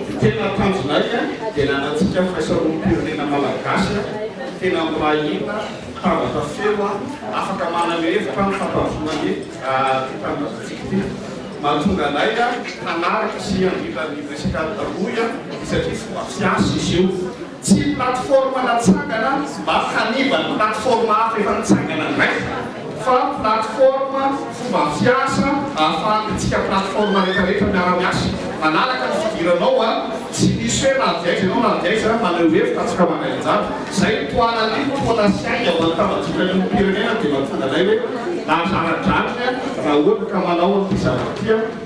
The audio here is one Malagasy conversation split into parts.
Ny tena tanjonay dia ny hanantsika firaisamonim-pirenena malagasy tena mirahina, mitambatra feo, afaka manana hevitra amin'ny fampandrosoana ny tanindrazantsika ity. Mahatonga anay hanaraka sy handrindra ny resaka taloha satria fomba fiasa izy io. Tsy plateforme natsangana mba hanimba ny plateforme hafa efa nitsangana indray fa plateforme fomba fiasa ahafahantsika plateforme retraretra miara-miasa manaraka ny fidiranao a! tsy misy hoe na avy aiza ianao na avy aiza maneho hevitra atsika ho anay anjara zay no tohanan'ny fotoana sy ainga hoan'ny tambajotran'ny olom-pirenena dia mahatonga anay hoe lahazara-dranony a! raha ohatra ka manao an'ity zavatra ity a!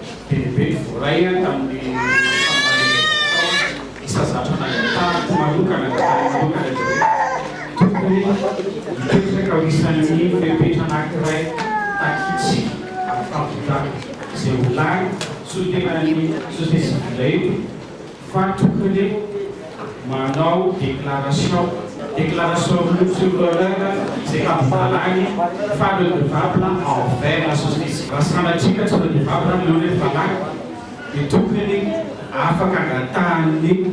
Bebe Voraina tamin'ny fampaherezam-potoana isa zatra nangatahako manokana dia taniako manokana izy hoe tokony hipetraka ho isan'ny fepetra anankiray takiantsika amin'ny fampitana izay ho lany solontenan'ny société civile io Fa tokony re manao déclaration déclaration route sur l'honneur izay habivalany fa redevable envers la société raha sanatria ka tsy redevable aminao ilay valany dia tokony afaka angatahan'ny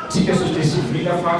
tsika société civile fa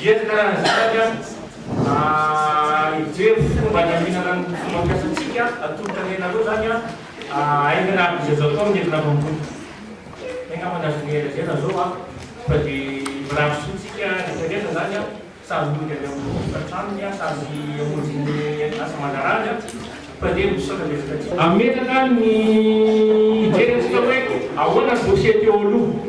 Dia ny karazan'izany an, ijery fomba niaminana ny fomba fiasantsika atolotra ny anareo izany an, aingana aby izay azo atao ny entina mamboly. Zay angamba ny azonay lazaina zao an, fa dia mirary soa tsika rehetra rehetra izany an, samy mody avy amin'ny tokantranony an, samy hamonjy ny asa aman-draharaany an, fa dia misaotra betsaka tsika. Hametraka ny hijery antsika hoe ahoana ny dossier teo aloha.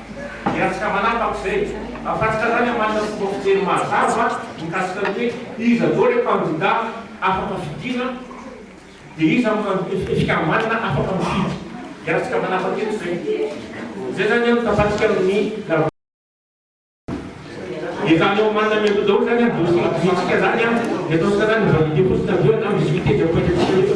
Dia afaka manapaka izay. Afatotra izany amin'ny manana fomba fijery mazava mikasika ny hoe iza daholo ireo kandida afaka fidiana, dia iza no kandida fikambanana afaka mifidy. Dia afaka manapaka eto izay. Izay izany an, tafadika amin'ny la. Efa any amin'ny manana mialoha daholo izany an, dossier idirantsika izany an, dia ataontsika izany ny validé fotsiny avy eo na misy miteny amin'ny pointantsika eto.